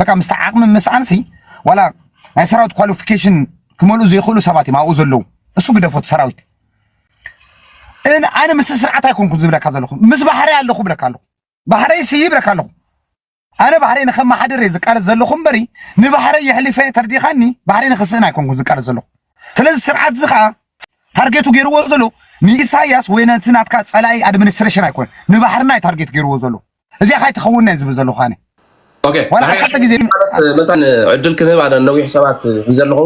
በቃ ምስቲ ዓቕሚ ምስኣንሲ ዋላ ናይ ሰራዊት ኳሊፊኬሽን ክመልኡ ዘይኽእሉ ሰባት እዮም ኣብኡ ዘለዉ። እሱ ግደፎት ሰራዊት እን ኣነ ምስ ስርዓት ኣይኮንኩን ዝብለካ ዘለኹ ምስ ባህረይ ኣለኹ ብለካ ኣለኹ ባህረይ ሲ ይብለካ ኣለኹ ኣነ ባህረይ ንከመሓድር እየ ዝቃለስ ዘለኹ እምበሪ ንባህረይ የሕሊፈ ተርዲኻኒ ባህረይ ንክስእን ኣይኮንኩን ዝቃለስ ዘለኹ ስለዚ ስርዓት እዚ ከዓ ታርጌቱ ገይርዎ ዘሎ ንኢሳያስ ወይ ነቲ ናትካ ፀላኢ ኣድሚኒስትሬሽን ኣይኮነን ንባሕርና እዩ ታርጌት ገይርዎ ዘሎ እዚኣ ካይትኸውን እየ ዝብል ዘለኹ ኣነ ኦኬ ዋላ ዳሕራይ ዓሰርተ ግዜ ማለት መታን ዕድል ክንህብ ኣነ ነዊሕ ሰባት ሒዘ ኣለኹ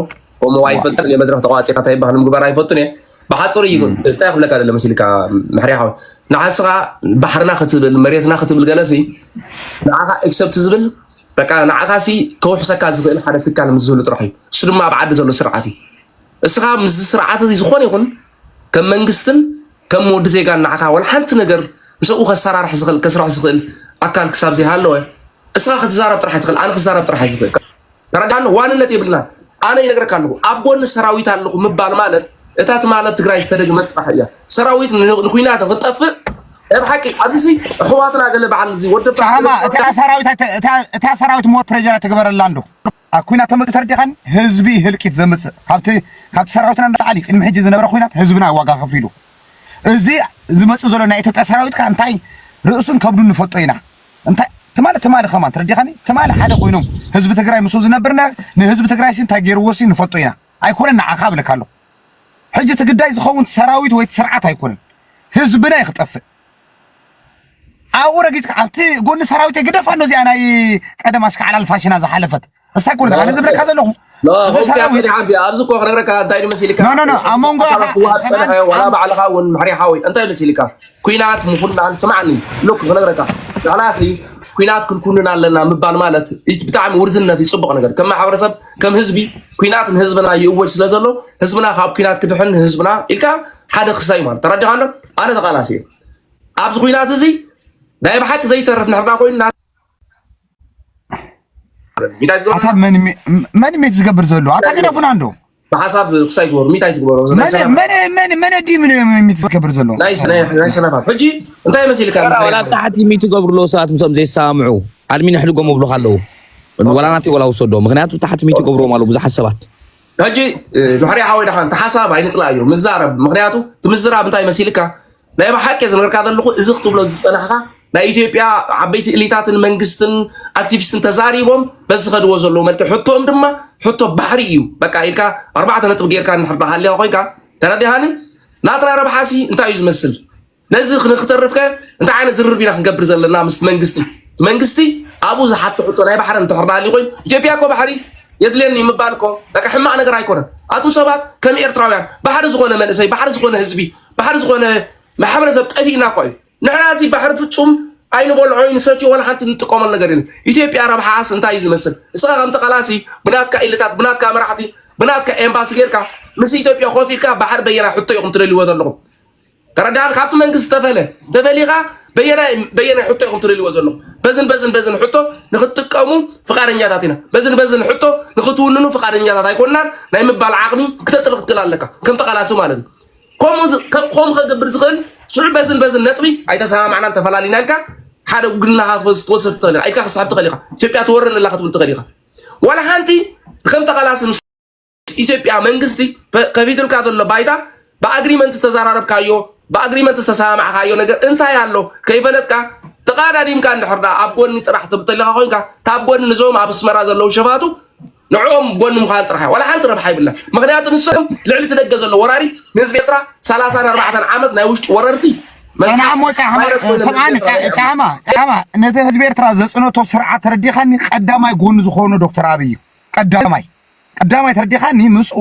እሞ ኣይፈልጥን እየ መድረክ ተቋፂካ እንታይ ይበሃል ምግባር ኣይፈልጥን እየ ብሓፅሩ እዩ ግን እንታይ ክብለካ ደለ መሲልካ መሕርያ ሓወ ንዓስኻ ባሕርና ክትብል መሬትና ክትብል ገለሲ ንዓኻ ኤክሰፕት ዝብል በቃ ንዓኻ ሲ ከውሕሰካ ዝኽእል ሓደ ትካል ምስ ዝህሉ ጥራሕ እዩ እሱ ድማ ኣብ ዓዲ ዘሎ ስርዓት እዩ እስኻ ምስዚ ስርዓት እዚ ዝኾነ ይኹን ከም መንግስትን ከም ወዲ ዜጋ ንዓኻ ወላ ሓንቲ ነገር ምስኡ ከሰራርሕ ዝኽእል ከስርሕ ዝኽእል ኣካል ክሳብ ዘይሃለወ እስኻ ክትዛረብ ጥራሕ ትኽእል፣ ኣነ ክዛረብ ጥራሕ ዝኽእል ተረዳኣኒ። ዋንነት የብልና። ኣነ ይነግረካ ኣለኹ ኣብ ጎኒ ሰራዊት ኣለኹ ምባል ማለት እታ ትማል ኣብ ትግራይ ዝተደግመት ጥራሕ እያ። ሰራዊት ንኩናት ንክትጠፍእ ናይ ብሓቂ ኣብዚ ኣሕዋትና ገለ በዓል እዚ ወደባ እታ ሰራዊት እታ ሰራዊት ሞፕረጀራ ትግበረላ እንዶ ኣብ ኩናት ተመግተር ዲኻን ህዝቢ ህልቂት ዘምጽእ ካብቲ ካብቲ ሰራዊትና ንላዕሊ ቅድሚ ሕጂ ዝነበረ ኩናት ህዝብና እዩ ዋጋ ከፊሉ እዚ ዝመጽእ ዘሎ ናይ ኢትዮጵያ ሰራዊት ከኣ እንታይ ርእሱን ከብዱን ንፈልጦ ኢና እንታይ ትማሊ ትማሊ ከማን ትረዲኻኒ ትማሊ ሓደ ኮይኖም ህዝቢ ትግራይ ምስ ዝነብር ንህዝቢ ትግራይ ሲ እንታይ ገይርዎ ሲ ንፈልጦ ኢና ኣይኮነን ንዓኻ ብለካ ኣለኹ ሕጂ እቲ ግዳይ ዝኸውን ሰራዊት ወይ ስርዓት ኣይኮነን ህዝብና እዩ ክጠፍእ ኣብኡ ረጊጽካ ኣብቲ ጎኒ ሰራዊተይ ግደፋ ኣሎ እዚኣ ናይ ቀደም ኣሽካዕላል ፋሽና ዝሓለፈት እሳ ይኮነ ኣነ ዝብለካ ዘለኹ ኣብዚ እኮ ክነግረካ እንታይ እዩ መሲልካ ኣብ መንጎ ክዋሃብ ፀንሐ ዋላ ባዕልኻ እውን ምሕሪ ሓወይ እንታይ እዩ መሲልካ ኩናት ምኹናን ስማዕኒ ሎክ ክነግረካ ንሕናሲ ኩናት ክንኩንን ኣለና ምባል ማለት ብጣዕሚ ውርዝነት እዩ ፅቡቕ ነገር ከም ማሕበረሰብ ከም ህዝቢ ኩናት ንህዝብና ይእወጅ ስለ ዘሎ ህዝብና ካብ ኩናት ክድሕን ህዝብና ኢልካ ሓደ ክሳይ ማለት ተረዲኻሎ ኣነ ተቃላሲ እየ ኣብዚ ኩናት እዚ ናይ ብሓቂ ዘይተርፍ ንሕርና ኮይኑ መን ሜት ዝገብር ዘሎ ኣታ ገደፉና እንዶ ብሓሳብ ክሳይ ግበሩ ሚታይ ትግበሮ መን ዲ ሜት ዝገብር ዘሎ ናይ ሰነፋት ሕጂ እንታይ መሲልካ ታሕቲ ሚት ገብርሎ ሰባት ምስኦም ዘይሰማምዑ ኣድሚን ሕድጎም ኣብሉካ ኣለዉ ወላ ናተይ ወላ ውሰዶ ምክንያቱ ታሕቲ ሚት ገብርዎም ኣለዉ ብዙሓት ሰባት ሕጂ ምሕሪ ሓወይ ድሓን እቲ ሓሳብ ኣይንጽላእዮ ምዛረብ ምክንያቱ እቲ ምዝራብ እንታይ መሲልካ ናይ ብሓቂ ዝነገርካ ዘለኹ እዚ ክትብሎ ዝጸናሕካ ናይ ኢትዮጵያ ዓበይቲ እሊታትን መንግስትን ኣክቲቪስትን ተዛሪቦም በዚ ዝኸድዎ ዘለዎ መልክዕ ሕቶኦም ድማ ሕቶ ባሕሪ እዩ በቃ ኢልካ ኣርባዕተ ነጥቢ ጌርካ ንሕርዳ ሃልያ ኮይንካ ተረዲሃኒ ናትና ረብሓሲ እንታይ እዩ ዝመስል ነዚ ንክተርፍ ከ እንታይ ዓይነት ዝርርብ ኢና ክንገብር ዘለና ምስ መንግስቲ መንግስቲ ኣብኡ ዝሓቶ ሕቶ ናይ ባሕሪ እንተኽር ናሃሊ ኮይኑ ኢትዮጵያ እኮ ባሕሪ የድልየኒ ምባል እኮ በቃ ሕማቅ ነገር ኣይኮነን። ኣቱም ሰባት ከም ኤርትራውያን ባሕሪ ዝኾነ መንእሰይ ባሕሪ ዝኾነ ህዝቢ ባሕሪ ዝኾነ ማሕበረሰብ ጠፊእና እኳ እዩ። ንሕና እዚ ባሕሪ ፍጹም ኣይንበልዖ ይንሰትዮ ወላ ሓንቲ ንጥቀመሉ ነገር የለን። ኢትዮጵያ ረብሓስ እንታይ እዩ ዝመስል? እስኻ ከም ተቃላሲ ብናትካ ኢልታት ብናትካ መራሕቲ ብናትካ ኤምባሲ ጌርካ ምስ ኢትዮጵያ ኮፍ ኢልካ ባሕሪ በየና ሕቶ ኢኹም ትደልይዎ ዘለኹም ተረዳኣኒ ካብቲ መንግስቲ ዝተፈለ ተፈሊኻ በየናይ በየናይ ሕቶ ኢኹም ትደልይዎ ዘለኹም በዝን በዝን በዝን ሕቶ ንክትጥቀሙ ፍቃደኛታት ኢና በዝን በዝን ሕቶ ንክትውንኑ ፍቃደኛታት ኣይኮናን ናይ ምባል ዓቕሚ ክተጥሪ ክትክል ኣለካ ከም ተቃላሲ ማለት እዩ ከምኡ ከምኡ ከገብር ዝኽእል ሽዑ በዝን በዝን ነጥቢ ኣይተሰማማዕናን ተፈላሊና ኢልካ ሓደ ውግንናኻ ክትወስድ ትኽእል ኢኻ ኢልካ ክስሕብ ትኽእል ኢኻ ኢትዮጵያ ትወረኒ ኣላ ክትብል ትኽእል ኢኻ ዋላ ሓንቲ ከም ተቃላሲ ኢትዮጵያ መንግስቲ ከፊቱልካ ዘሎ ባይታ ብኣግሪመንት ዝተዘራረብካዮ ብኣግሪመንት ዝተሰማማዕካዮ ነገር እንታይ ኣሎ ከይፈለጥካ ተቃዳዲምካ እንድሕር ዳ ኣብ ጎኒ ጥራሕ ትብተለካ ኮንካ ካብ ጎኒ ንዞም ኣብ ኣስመራ ዘለዉ ሸፋቱ ንዕኦም ጎኒ ምዃን ጥራሕ ዋላ ሓንቲ ረብሓ ይብላ ምክንያቱ ንሶም ልዕሊ እቲ ደገ ዘሎ ወራሪ ንህዝቢ ኤርትራ 34 ዓመት ናይ ውሽጢ ወረርቲ ሰማሞ ሰምዓኒ ጣዕማ ጣዕማ ነቲ ህዝቢ ኤርትራ ዘፅነቶ ስርዓት ተረዲኻኒ ቀዳማይ ጎኒ ዝኾኑ ዶክተር ኣብይ እዩ ቀዳማይ ቅዳማይ ተረዲኻኒ ምስኡ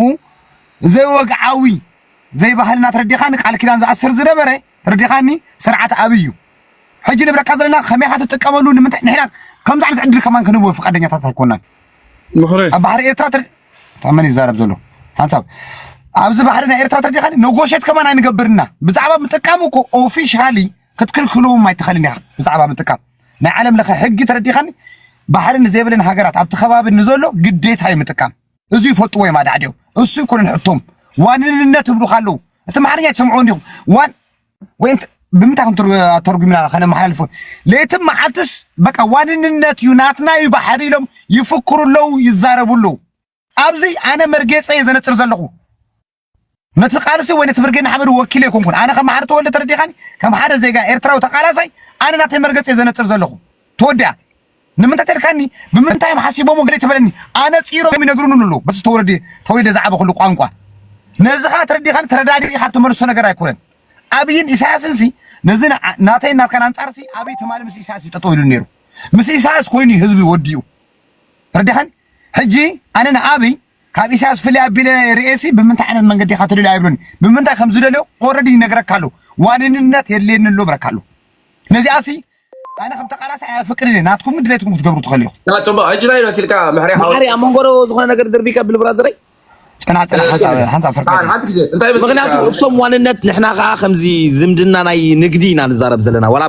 ዘይወግዓዊ ዘይባህልና ተረዲኻኒ ቃል ኪዳን ዝኣስር ዝነበረ ተረዲኻኒ ስርዓት ኣብይ እዩ ሕጂ ንብረካ ዘለና ከመይ ኢኻ ትጥቀመሉ ንምንታይ ንሕና ከምዚ ዓይነት ዕድል ከማን ክንህቦ ፍቃደኛታት ኣይኮናን ምኽሪ ኣብ ባሕሪ ኤርትራ ተር ታመን ይዛረብ ዘሎ ሓንሳብ ኣብዚ ባሕሪ ናይ ኤርትራ ተርዲኻኒ ነጎሸት ከማን ኣይንገብርና ብዛዕባ ምጥቃም እኮ ኦፊሻሊ ክትክልክለዎም ኣይትኸልን ኢኻ ብዛዕባ ምጥቃም ናይ ዓለም ለኸ ሕጊ ተረዲኻኒ ባሕሪ ንዘይብለን ሃገራት ኣብቲ ከባቢ ንዘሎ ግዴታ እዩ ምጥቃም። እዙይ ይፈልጥዎ እዮም ኣዳዕዲኦም። እሱ ይኮነን ሕቶም ዋንንነት ይብሉካ ኣለዉ። እቲ ኣምሓርኛ ትሰምዕዎ እንዲኹም ዋን ወይ ብምንታይ ተርጉምና ከነመሓላልፎ ለይትን መዓልትስ በቃ ዋንንነት እዩ ናትና እዩ ባሕሪ ኢሎም ይፍክሩ ኣለዉ፣ ይዛረቡ ኣለዉ። ኣብዚ ኣነ መርጌፀ እየ ዘነፅር ዘለኹ። ነቲ ቃልሲ ወይ ነቲ ብርጌድ ንሓመዱ ወኪለ ኣይኮንኩን። ኣነ ከም መሓሪ ተወልደ ተረዲእኻኒ፣ ከም ሓደ ዜጋ ኤርትራዊ ተቃላሳይ ኣነ ናተይ መርገጺ እየ ዘነጽር ዘለኹ። ተወዲኣ ንምንታይ ተልካኒ ብምንታይ እዮም ሓሲቦሞ ገለ ተበለኒ ኣነጺሮም ይነግሩኒ ኣለዉ በቲ ተወለዲ ተወሊደ ዝዓበኹሉ ቋንቋ ነዚ ኸኣ ተረዲኻን ተረዳዲእኻ እትመልሶ ነገር ኣይኮነን ኣብይን ኢሳያስን ሲ ነዚ ናተይን ናትካን ኣንጻር ሲ ኣብይ ትማሊ ምስ ኢሳያስ እዩ ጠጠው ኢሉ ነይሩ ምስ ኢሳያስ ኮይኑ ህዝቢ ወዲኡ ተረዲኻን ሕጂ ኣነ ንኣብይ ካብ ኢሳያስ ፍልይ ኣቢለ ርእየሲ ብምንታይ ዓይነት መንገዲ ኢኻ ትደልዮ ኣይብሎን ብምንታይ ከም ዝደልዮ ኦረዲ ይነግረካ ኣሎ ዋንንነት የድልየኒ ኣሎ ብረካ ኣሎ ነዚኣሲ ኣነ ከም ተቃላሳይ ኣየፍቅድን እየ ናትኩም ግን ድሌትኩም ክትገብሩ ትኽእሉ ኢኹም ታ ጽቡቅ ሕጂ ናይ መሲልካ ምሕሪ ሓወይ ማዕሪ ኣብ መንጎ ዶ ዝኾነ ነገር ድርቢካ ብል ብራዘረይ ጨና ጨና ሓንሳ ሓንሳ ፍርቂ ጣን ሓንቲ ግዜ እንታይ መሲልካ ምክንያቱ እሶም ዋንነት ንሕና ከዓ ከምዚ ዝምድና ናይ ንግዲ ኢና ንዛረብ ዘለና ዋላ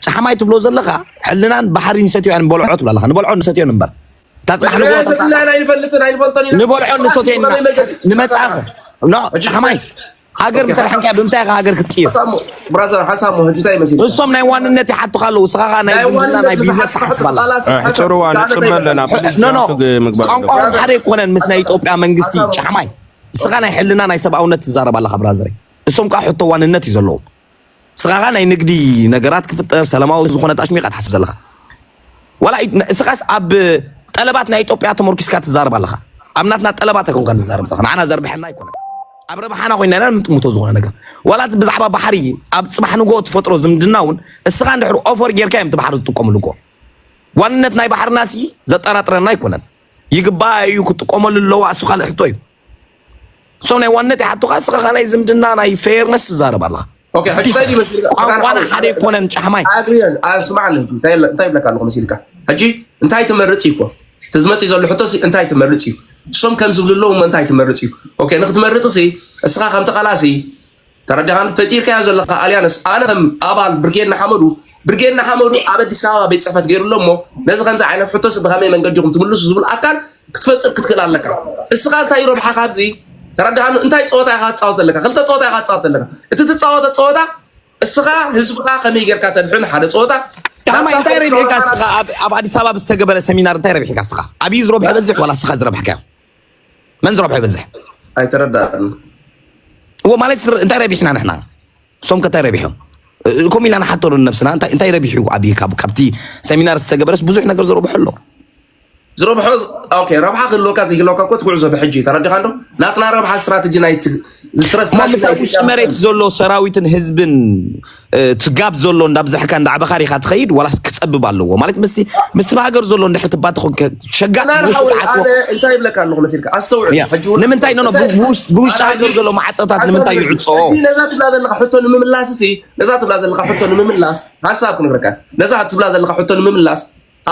ጫሕማይ ትብሎ ዘለካ ሕልናን ባሕሪ ንሰትዮያን በልዖ ትብላ ኣለካ ንበልዖ ንሰትዮን እምበር እታ ፅባሕ ንግሆ ንበልዖ ንሰትዮ ኢና ንመፃእኸ ጫሕማይ ሃገር ምስ ኣድሓንካያ ብምንታይ ኢኻ ሃገር ክትቅይር? እሶም ናይ ዋንነት ይሓቱኻ ኣለዉ እስኻ ከዓ ናይ ዝምድና ናይ ቢዝነስ ትሓስብ ኣላ ሕፅርዋ ንፅበ ኣለና ኖኖ ቋንቋኦም ሓደ ኣይኮነን ምስ ናይ ኢትዮጵያ መንግስቲ ጫሕማይ እስኻ ናይ ሕልና ናይ ሰብኣውነት ትዛረብ ኣለኻ ብራዘረይ እሶም ከዓ ሕቶ ዋንነት እዩ ዘለዎም ስኻኻ ናይ ንግዲ ነገራት ክፍጠር ሰላማዊ ዝኾነ ጣሽሙ ኢኻ ትሓስብ ዘለኻ ዋላ እስኻስ ኣብ ጠለባት ናይ ኢትዮጵያ ተመርኪስካ ትዛረብ ኣለኻ ኣብ ናትና ጠለባት ኣይኮንካ ንዛረብ ዘለኻ ንዓና ዘርብሐና ኣይኮነን ኣብ ረብሓና ኮይና ኢና ንጥምቶ ዝኾነ ነገር ዋላ ብዛዕባ ባሕሪ ኣብ ፅባሕ ንጎ ትፈጥሮ ዝምድና እውን እስኻ እንድሕር ኦፈር ጌርካ እዮም እቲ ባሕሪ ዝጥቀምሉ እኮ ዋንነት ናይ ባሕርና ሲ ዘጠራጥረና ኣይኮነን ይግባእ እዩ ክጥቀመሉ ኣለዋ እሱ ካልእ ሕቶ እዩ እሶም ናይ ዋነት ይሓቱኻ እስኻ ኸኣ ናይ ዝምድና ናይ ፌርነስ ትዛረብ ኣለኻ ኦኬ ሕጂ እንታይ ድዩ መሲልካ ቋንቋና ሓደ ኣይኮነን ጫሕማይ ኣብርዮን ኣብ ስማዓኒ እንታይ ኢለ- እንታይ ይብለካ ኣለኹ መሲልካ ሕጂ እንታይ ትመርጽ እዩ እኮ እቲ ዝመጽእ ዘሎ ሕቶ ሲ እንታይ ትመርጽ እዩ እሶም ከም ዝብሉ ኣለዉ እሞ እንታይ ትመርጽ እዩ ኦኬ ንክትመርጽ ሲ እስኻ ከም ተቓላሲ ተረዲኻኒ? ፈጢርካዮ ዘለኻ ኣልያንስ ኣነ ከም ኣባል ብርጌድ ንሓመዱ ብርጌድ ንሓመዱ ኣብ ኣዲስ ኣበባ ቤት ፅሕፈት ገይሩ ኣሎ እሞ ነዚ ከምዚ ዓይነት ሕቶስ ብኸመይ መንገዲ ኢኹም ትምልሱ ዝብል ኣካል ክትፈጥር ክትክእል ኣለካ። እስኻ እንታይ እዩ ረብሓ ካብዚ ተረዳሃኑ? እንታይ ፀወታ ኢኻ ትፃወት ዘለካ? ክልተ ፀወታ ኢኻ ትፃወት ዘለካ። እቲ ትፃወተ ፀወታ እስኻ ህዝብኻ ከመይ ጌርካ ተድሕን ሓደ ፀወታ ዳማ እንታይ ረብሒካ እስኻ ኣብ ኣዲስ ኣበባ ብዝተገበረ ሰሚናር እንታይ ረብሒካ እስኻ ኣብዩ ዝረብሐ በዝሕ ዋላ እስኻ ዝረብሕካዮ መን ዝረብሖ ይበዝሕ? ኣይተረዳእን እዎ ማለት እንታይ ረቢሕና ንሕና እሶም ከታይ ረቢሖም ከምኡ ኢልና ንሓተሉ ነብስና እንታይ ረቢሑ ኣብ ካብቲ ሰሚናር ዝተገበረስ ብዙሕ ነገር ዝረብሖ ኣሎ ዝረብሖ ረብሓ ክህልወካ ዘይህልወካ እኮ ትጉዕዞ ብሕጂ ተረዲኻ ዶ ናትና ረብሓ ስትራቴጂ ኣብ ውሽጢ መሬት ዘሎ ሰራዊትን ህዝብን ትጋብ ዘሎ እንዳብዛሕካ እንዳዕበኻር ኢኻ ትኸይድ ዋላስ ክፀብብ ኣለዎ ማለት ምስ ምስቲ ብሃገር ዘሎ እንድሕር ትባት ኮንከ ሸጋእ እንታይ ይብለካ ኣለኹ መሲልካ ኣስተውዕል ንምንታይ ኖ ብውሽጢ ሃገር ዘሎ ማዕፀታት ንምንታይ ይዕፆ ነዛ ትብላ ዘለካ ሕቶ ንምምላስ ሲ ነዛ ትብላ ዘለካ ሕቶ ንምምላስ ሓሳብ ክንብረካ ነዛ ትብላ ዘለካ ሕቶ ንምምላስ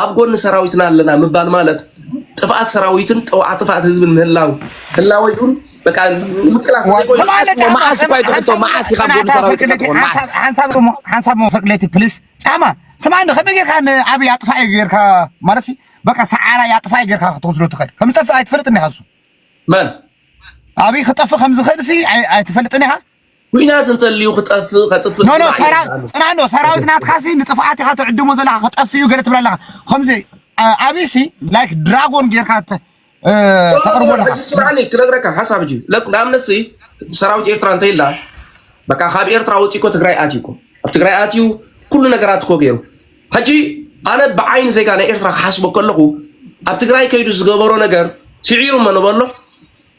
ኣብ ጎኒ ሰራዊትና ኣለና ምባል ማለት ጥፍኣት ሰራዊትን ጥውዓ ጥፍኣት ህዝብን ምህላው ህላወይን በቃ ምቅላስ ሓንሳብ መፈቅለቲ ፕሊስ ጫማ ስማ ከመይ ጌርካ ንኣብይ ኣጥፋኢ ጌርካ ማለት በቃ ሰዓራ ኣጥፋኢ ጌርካ ክትወስዶ ትኽእል ከም ዝጠፍእ ኣይትፈልጥን ኢኻ እሱ መን ኣብይ ክጠፍእ ከም ዝኽእል ሲ ኣይትፈልጥን ኢኻ ኩናት እንተልዩ ክጠፍእ ከጥፍእ ኖኖ ፅና ዶ ሰራዊት ናትካ ሲ ንጥፍኣት ኢኻ ትዕድሞ ዘለኻ ክጠፍእ እዩ ገለ ትብል ኣለኻ ከምዚ ኣብይ ሲ ላይክ ድራጎን ጌርካ ተቕርቦ ኣለኻ ስምዓኒ ክነግረካ ሓሳብ እጂ ንኣብነት ሲ ሰራዊት ኤርትራ እንተይላ በቃ ካብ ኤርትራ ወፂ እኮ ትግራይ ኣትዩ እኮ ኣብ ትግራይ ኣትዩ ኩሉ ነገራት እኮ ገይሩ ሕጂ ኣነ ብዓይኒ ዜጋ ናይ ኤርትራ ክሓስቦ ከለኹ ኣብ ትግራይ ከይዱ ዝገበሮ ነገር ስዒሩ መ ንበሎ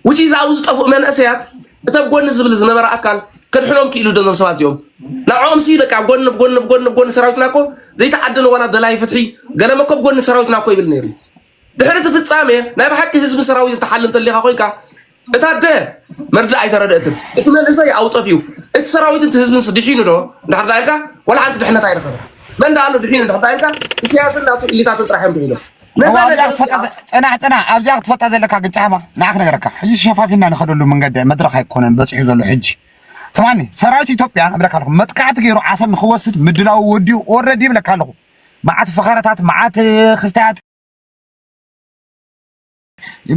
which is ኣብዚ ዝጠፍኡ መንእሰያት እቲ ኣብ ጎኒ ዝብል ዝነበረ ኣካል ከድሕኖም ክኢሉ ዶ ዞም ሰባት እዚኦም ንዕኦም ሲ በቃ ኣብ ጎኒ ብጎኒ ብጎኒ ብጎኒ ሰራዊትና እኮ ዘይተዓደለ ዋላ ደላይ ፍትሒ ገለ መኮ ብጎኒ ሰራዊትና እኮ ይብል ነይሩ ድሕሪ እቲ ፍጻሜ ናይ ብሓቂ ህዝቢ ሰራዊት እትሓል እንተሊኻ ኮይንካ እታ ደ መርዳእ ኣይተረድእትን እቲ መንእሰይ ኣብኡ ጠፊኡ እቲ ሰራዊት እቲ ህዝብን ድሒኑ ዶ እንድሕር ዳኢልካ ዋላ ሓንቲ ድሕነት ኣይረኸበ መን ዳኣሎ ድሒኑ እንድሕር ዳኢልካ ኢሳያስን ናቱ ኢሊታትን ጥራሕ እዮም ድሒኖም ነዛ ነገር ፅናዕ ፅናዕ ኣብዚኣ ክትፈልጣ ዘለካ ግን ጫማ ንዓ ክነገረካ ሕጂ ሸፋፊና ንኸደሉ መንገዲ መድረኽ ኣይኮነን በፂሑ ዘሎ ሕጂ ስማኒ ሰራዊት ኢትዮጵያ እብለካ ኣለኹ መጥቃዕቲ ገይሩ ዓሰብ ንክወስድ ምድላው ወዲኡ ኦልሬዲ ይብለካ ኣለኹ መዓት ፈኸረታት መዓት ክስታያት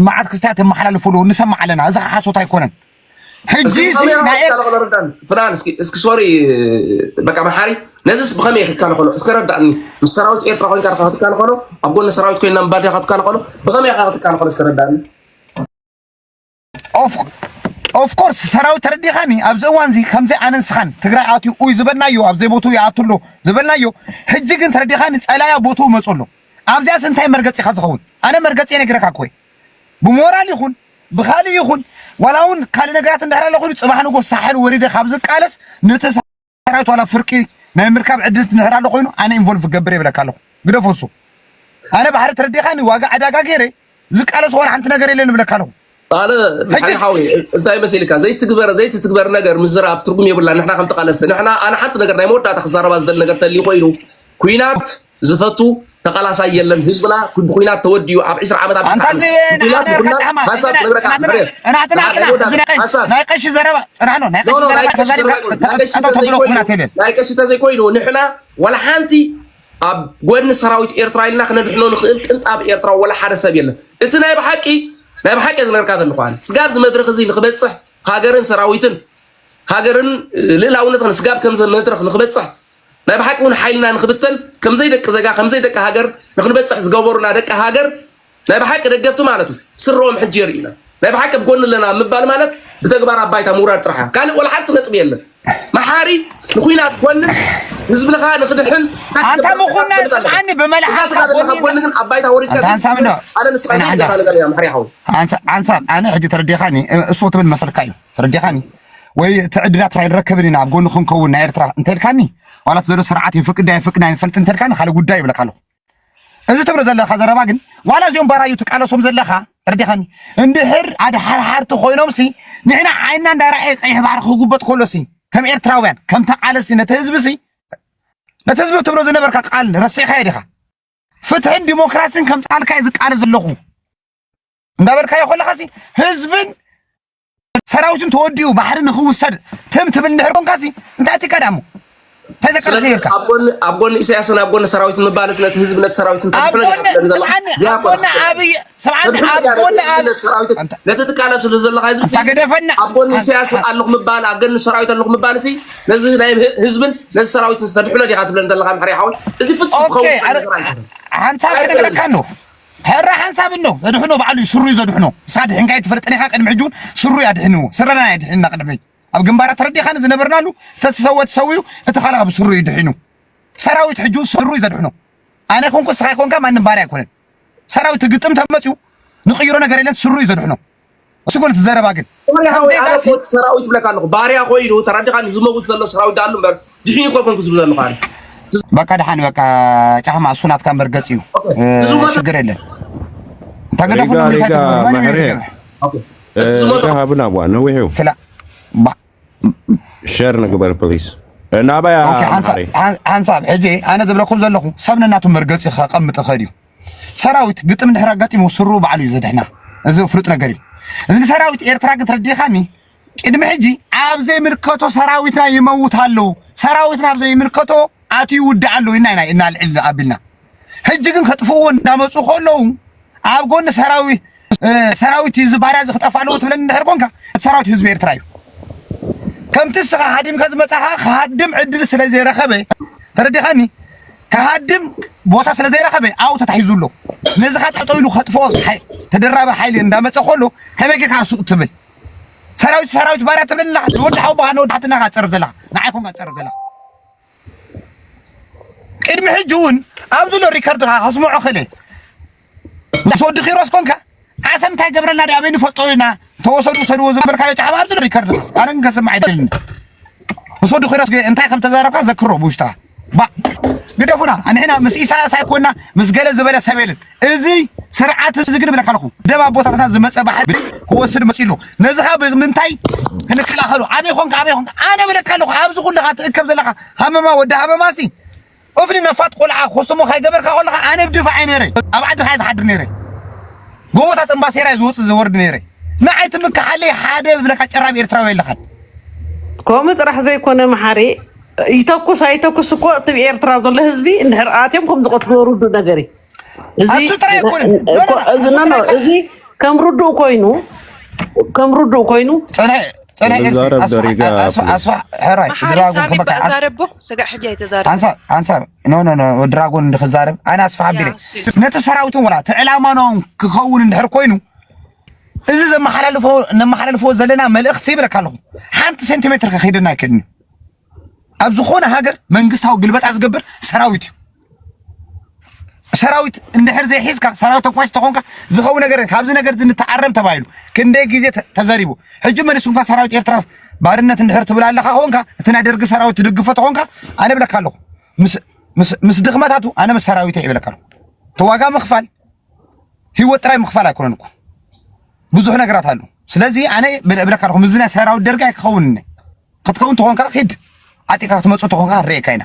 መዓት ክስታያት የመሓላልፉ ኣለዉ ንሰማዕ ኣለና እዚ ሓሶት ኣይኮነን ሕጂ ፍላል እስኪ ሶሪ በቃ መሓሪ ነዚስ ብኸመይ ክትከላኸሎ እስከ ረዳእኒ ምስ ሰራዊት ኤርትራ ኮይንካ ዲኻ ክትከላኸሎ ኣብ ጎኒ ሰራዊት ኮይና ምባል ዲኻ ክትከላኸሎ ብኸመይ ኢኻ ክትከላኸሎ እስከ ረዳእኒ ኦፍኮርስ ሰራዊት ተረዲኻኒ ኣብዚ እዋን እዚ ከምዚ ኣነ ንስኻን ትግራይ ኣትዩ ኡይ ዝበልናዮ ኣብ ዘይቦቱ ይኣቱ ኣሎ ዝበልናዮ ሕጂ ግን ተረዲኻኒ ፀላያ ቦትኡ መፁ ኣሎ ኣብዚኣስ እንታይ መርገፂ ኢኻ ዝኸውን ኣነ መርገፂ ነግረካ ኮይ ብሞራል ይኹን ብኻሊእ ይኹን ዋላ እውን ካልእ ነገራት እንድሕር ኣሎ ኮይኑ ፅባሕ ንጎ ሳሕል ወሪደ ካብ ዝቃለስ ነቲ ሰራዊት ዋላ ፍርቂ ናይ ምርካብ ዕድል እንድሕር ኣሎ ኮይኑ ኣነ ኢንቮልቭ ክገብር የብለካ ኣለኹ ግደፎ እሱ ኣነ ባሕሪ ተረዲኻኒ ዋጋ ዕዳጋ ገይረ ዝቃለስ ዝኾነ ሓንቲ ነገር የለን እብለካ ኣለኹ ኣነ ሓዊ እንታይ መሲልካ ዘይትግበር ዘይትትግበር ነገር ምዝራብ ትርጉም የብላ ንሕና ከም ተቃለስቲ ንሕና ኣነ ሓንቲ ነገር ናይ መወዳእታ ክዛረባ ዝደሊ ነገር ተልዩ ኮይኑ ኩናት ዝፈቱ ተቃላሳይ የለን ህዝብና ብኩናት ተወዲኡ ኣብ 20 ዓመት ኣብ ሃሳብ ክነግረካ ናይ ቀሺ ዘረባ ፅናዕኖ ናይ ቀሺ ዘረባ ናይ ቀሺ ተዘይኮይኑ ንሕና ወላ ሓንቲ ኣብ ጎድኒ ሰራዊት ኤርትራ ኢልና ክነድሕኖ ንኽእል ቅንጣብ ኤርትራ ወላ ሓደ ሰብ የለን እቲ ናይ ብሓቂ ናይ ብሓቂ ዝነገርካ ዘለኹ ስጋብ እዚ መድረኽ እዚ ንክበፅሕ ሃገርን ሰራዊትን ሃገርን ልእላውነትን ስጋብ ከምዚ መድረኽ ንክበፅሕ ናይ ብሓቂ ውን ሓይልና ንክብተን ከምዘይ ደቂ ዘጋ ከምዘይ ደቂ ሃገር ንክንበጽሕ ዝገበሩና ደቂ ሃገር ናይ ብሓቂ ደገፍቲ ማለት እዩ ስረኦም ሕጂ የርእዩና ናይ ብሓቂ ኣብ ጎኒ ኣለና ምባል ማለት ብተግባር ኣብ ባይታ ምውራድ ጥራሕ እያ ካልእ ወላ ሓንቲ ነጥቢ የለን መሓሪ ንኩናት ኮንን ህዝብኻ ንክድሕን ኣንታ ምኹና ጽልዓኒ ብመልሓስካ ጎኒ ግን ኣብ ባይታ ወሪድካ ኣነ ንስኻ ዘይደገፋ ነገር ኢና መሓሪ ሓው ሓንሳብ ኣነ ሕጂ ተረዲኻኒ እሱ ትብል መሰልካ እዩ ተረዲኻኒ ወይ እቲ ዕድላት ኣይንረክብን ኢና ኣብ ጎኒ ክንከውን ናይ ኤርትራ እንተልካኒ ዋላ እቲ ዘሎ ስርዓት የፍቅድ ኣይፍቅድ ኣይንፈልጥ እንተልካኒ ካልእ ጉዳይ ይብለካ ኣለኹ እዚ ትብሎ ዘለካ ዘረባ ግን ዋላ እዚኦም ባራዩ ትቃለሶም ዘለካ ተረዲኻኒ እንድሕር ኣድሓርሓርቲ ኮይኖምሲ ንሕና ዓይንና እንዳረኣየ ቀይሕ ባሕሪ ክጉበጥ ከሎሲ ከም ኤርትራውያን ከም ተቃለስቲ ነቲ ህዝቢሲ ነቲ ህዝቢ ትብሎ ዝነበርካ ቃል ረሲዕካዮ ዲኻ ፍትሕን ዲሞክራሲን ከም ጣልካየ ዝቃለስ ዘለኹ እንዳበልካዮ ከለኻሲ ህዝብን ሰራዊት እንተወዲኡ ባሕሪ ንክውሰድ ትም ትብል እንድሕር ኮንካሲ እንታይ ትከዳሞ ተዘከርሲ ይርካ ኣብ ጎኒ ኢሳያስን ኣብ ጎኒ ሰራዊት ምባልስ ነቲ ህዝቢ ነቲ ሰራዊት ነቲ ትቃለስሉ ዘለካ ህዝቢ ገደፈና ኣብ ጎኒ ኢሳያስ ኣለኹ ምባል ኣብ ጎኒ ሰራዊት ኣለኹ ምባል ሲ ነዚ ናይ ህዝብን ነዚ ሰራዊትን ዝተድሕኖ ዲኻ ትብለን ዘለካ ምሕሪ ሓወይ እዚ ፍፁም ክኸውን ሓንሳብ ክነግረካ ኣሎ ሕራ ሓንሳብ ኣሎ ዘድሕኖ ባዕሉ እዩ ስሩዩ ዘድሕኖ ንስኻ ድሒንካዮ ኣይትፈልጥን ኢኻ ቅድሚ ሕጂ እውን ስሩዩ ኣድሒንዎ ስረና እዩ ኣድሒንና ቅድሚ ሕጂ ኣብ ግንባራት ተረዲኻኒ ዝነበርናሉ ተዝሰወ ተሰዊኡ እቲ ካልእ ካብ ስሩዩ እዩ ድሒኑ ሰራዊት ሕጂ እውን ስሩዩ ዘድሕኖ ኣነ ኮንኩ ንስኻ ኮንካ ማንም ባርያ ኣይኮነን ሰራዊት ግጥም ተመፅኡ ንቅይሮ ነገር የለን ስሩዩ ዘድሕኖ እሱ ኮን ትዘረባ ግን ሰራዊት ይብለካ ኣለኹ ባርያ ኮይኑ ተረዲኻ ዝመውት ዘሎ ሰራዊት ዳኣሉ እምበር ድሒኒ ኮ ኮንኩ ዝብል ዘለኹ ኣነ በቃ ድሓን በቃ ጫማ እሱ ናትካ እምበር ገፅ እዩ ሽግር የለን ተገደፉ ሃብና ዋ ነዊሕ እዩ ሸር ንግበር ፕሊስ ናባያ ሓንሳብ ሕጂ ኣነ ዝብለኩም ዘለኹ ሰብ ነናቱ መርገፂ ከቐምጥ ኸድ እዩ ሰራዊት ግጥም ድሕሪ ኣጋጢሙ ስሩ ባዕሉ እዩ ዘድሕና እዚ ፍሉጥ ነገር እዩ እዚ ሰራዊት ኤርትራ ግን ተረዲኻኒ ቅድሚ ሕጂ ኣብ ዘይምልከቶ ሰራዊትና ይመውት ኣለዉ ሰራዊትና ኣብ ዘይምልከቶ ኣትዩ ይውዳእ ኣለዉ ኢና ኢና እናልዕል ኣቢልና ሕጂ ግን ከጥፍእዎ እንዳመፁ ከለዉ ኣብ ጎኒ ሰራዊት ሰራዊት እዩ እዚ ባርያ እዚ ክጠፍእ ኣለዎ ትብለኒ እንድሕር ኮንካ እቲ ሰራዊት ህዝቢ ኤርትራ እዩ ከምቲ እስኻ ሃዲምካ ዝመጻኻ ክሃድም ዕድል ስለ ዘይረኸበ ተረዲኻኒ ክሃድም ቦታ ስለ ዘይረኸበ ኣብኡ ተታሒዙ ኣሎ ነዚ ኸ ጠጠው ኢሉ ከጥፍኦ ተደራቢ ሓይሊ እንዳመፀ ከሎ ከመይ ጌርካ ሱቅ ትብል ሰራዊት ሰራዊት ባርያ ትብል ኣለኻ ንወዲ ሓውቦኻ ንወዲ ሓትናኻ ትፀርፍ ዘለኻ ንዓይ ኮንካ ትፀርፍ ዘለኻ ቅድሚ ሕጂ እውን ኣብዚ ሎ ሪከርድኻ ከስምዖ ክእለ ምስ ወዲ ኪሮስ ኮንካ ዓሰብ እንታይ ገብረና ዲ ኣበይ ንፈልጦ ኢና ተወሰዱ ውሰድዎ ዝበልካዮ ጫዕባ ኣብዚ ሪከርድ ኣነ ግን ከስምዕ ኣይደልን ምስ ወዲ ኪሮስ እንታይ ከም ተዛረብካ ዘክሮ ብውሽጥኻ ባእ ግደፉና ኣንሕና ምስ ኢሳያስ ኣይኮና ምስ ገለ ዝበለ ሰብ የለን እዚ ስርዓት እዚ ግን ብለካ ኣለኹ ደብ ኣቦታትና ዝመፀ ባሕሪ ክወስድ መፂኡ ኣሎ ነዚ ኸ ብምንታይ ክንከላኸሉ ኣበይ ኾንካ ኣበይ ኾንካ ኣነ ብለካ ኣለኹ ኣብዚ ኩልኻ ትእከብ ዘለኻ ሃመማ ወዲ ሃመማ ሲ እፍኒ ነፋጥ ቆልዓ ኮስትሞ ካይገበርካ ከለካ ኣነ ድፋዕ እየ ነይረ ኣብ ዓድካ እየ ዝሓድር ነይረ ጎቦታት እምባሴራ እየ ዝወፅእ ዝወርድ ነይረ ንዓይ ትምክሓለይ ሓደ ዝብለካ ጨራም ኤርትራዊ የለካን ከምኡ ጥራሕ ዘይኮነ መሓሪ ይተኩስ ኣይተኩስ እኮ እቲ ኤርትራ ዘሎ ህዝቢ እንድሕር ኣትዮም ከም ዝቐትልዎ ርዱ ነገር እዩ እዚ ከም ርዱእ ኮይኑ ከም ርዱእ ኮይኑ ፀናይ ኤርሲ ድራጎን እንድክዛረብ ኣነ ኣስፋሕ ኣቢለ ነቲ ሰራዊትን ወላ እቲ ዕላማናውን ክኸውን እንድሕር ኮይኑ እዚ ዘመሓላልፎ ነመሓላልፎ ዘለና መልእኽቲ ይብለካ ኣለኹ ሓንቲ ሴንቲሜትር ከኺድና ኣይክእልን እዩ ኣብ ዝኾነ ሃገር መንግስታዊ ግልበጣ ዝገብር ሰራዊት እዩ። ሰራዊት እንድሕር ዘይሒዝካ ሰራዊት ተኳሽ ተኾንካ ዝኸው ነገር ካብዚ ነገር ንተዓረም ተባሂሉ ክንደይ ግዜ ተዘሪቡ ሕጂ መልሱ እንኳ ሰራዊት ኤርትራ ባርነት እንድሕር ትብል ኣለኻ ኾንካ እቲ ናይ ደርጊ ሰራዊት ትድግፎ ተኾንካ ኣነ ብለካ ኣለኹ ምስ ድኽመታቱ ኣነ ምስ ሰራዊት ይብለካ ኣለኹ ተዋጋ ምኽፋል ህይወት ጥራይ ምኽፋል ኣይኮነን እኮ ብዙሕ ነገራት ኣሎ። ስለዚ ኣነ እብለካ ኣለኹ ምዝና ሰራዊት ደርጋይ ክኸውን ክትከውን ተኾንካ ኪድ ዓጢኻ ክትመጽእ ተኾንካ ክንርእየካ ኢና።